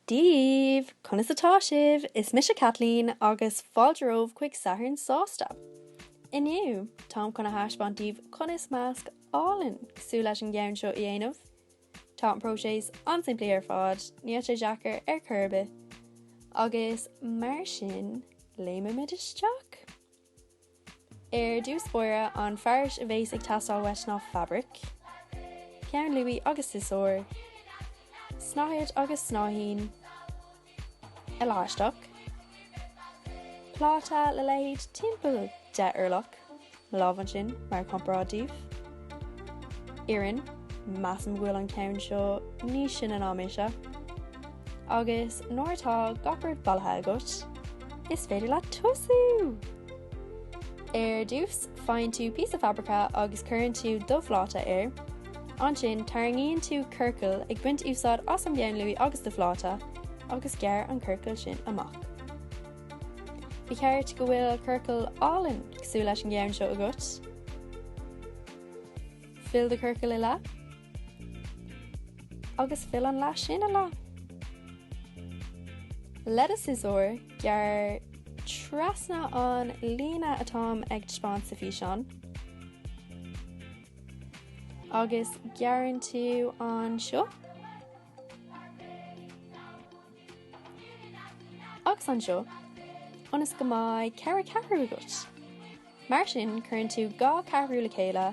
daoibh! Conas atá sibh? Is mise Kathleen agus fáilte romhaibh chuig Satharn Sásta! Inniu, táim chun a thaispeáint daoibh conas masc álainn cosúil leis an gceann seo a dhéanamh. Tá an próiseas an-simplí ar fad, níl sé deacair ar chor ar bith, agus mar sin, léimimid isteach! Ar dtús báire, an fearas a bheas ag teastáil uait ná fabraic, peann luaí agus siosúr, snáthaid agus snáithín, leaisteach, pláta le leithead timpeall deich orlach, mo lámh ansin mar chomparáid daoibh. Iarann, measaim go bhfuil an ceann seo níos sine ná mise. Agus nuair atá gach rud bailithe agat, is féidir leat tosú! Ar dtús, faigheann tú píosa fabraice agus cuireann tú do phláta air. Ansin, tarraingíonn tú ciorcal, ag baint úsáid as an bpeann luaí agus do phláta, agus gearr an ciorcal sin amach. Ba cheart go bhfuil ciorcal álainn cosúil leis an gceann seo agat. Fill do chiorcal i leath agus fill an leath sin i leath. Le do shiosúr, gearr trasna an líne atáim ag taispeáint sa físeán agus gearrann tú anseo. agus anseo, ionas go mbeidh ceithre ceathrú agat. Mar sin, cuireann tú dhá cheathrú le chéile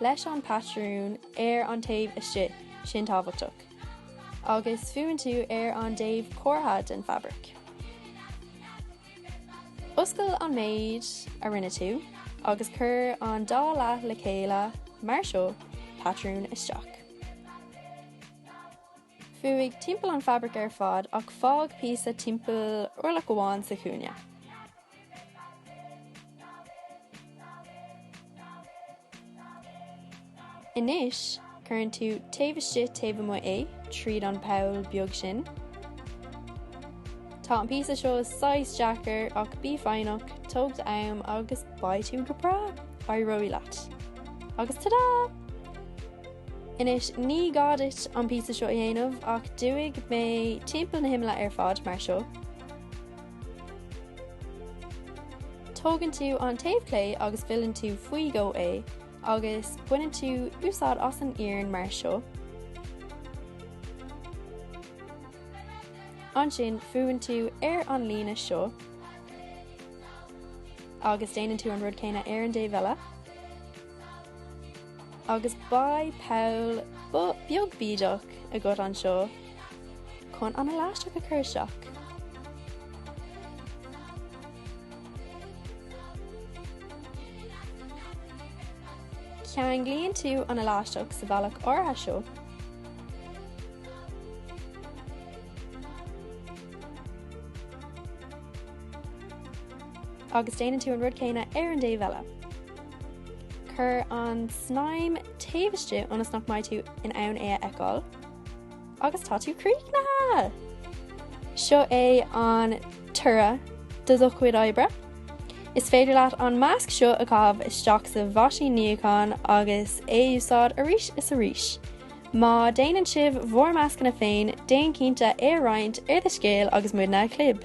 leis an patrún ar an taobh istigh sin tábhachtach, agus fuann tú ar an dtaobh cuartha den fabraic. Oscail an méid a rinne tú agus cuir an dá leath le chéile mar seo, patrún isteach. Fuaigh timpeall an fabraic ar fad ach fág píosa timpeall orlach amháin sa chúinne. Anois, cuireann tú taobh istigh taobh amuigh é tríd an bpoll beag sin. Tá an píosa seo saghas deacair ach bí foighneach, tóg d'am agus beidh tú go breá! Éireoidh leat! Agus tada! Anois, ní gá duit an píosa seo a dhéanamh, ach d'fhuaigh mé timpeall na himill ar fad, mar seo. Tógann tú an taobh clé agus filleann tú faoi dhó é, agus baineann tú úsáid as an iarann mar seo. Ansin fuann tú ar an líne seo, agus déanann tú an rud céanna ar an dtaobh eile. Agus beidh poll beag bídeach agat anseo chun an leaisteach a chur isteach. Ceanglaíonn tú an leaisteach sa bhealach áirithe seo. Agus déanann tú an rud céanna ar an dtaobh eile. Cuir an snaidhm taobh istigh ionas nach mbeidh tú in ann é a fheiceáil agus tá tú críochnaithe! Seo é an toradh do do chuid oibre. Is féidir leat an masc seo a chaitheamh isteach sa mheaisín níocháin agus é a úsáid arís is arís. Má déanann sibh bhur meascanna féin, déan cinnte é a roinnt ar do scéal agus muidne a chlib!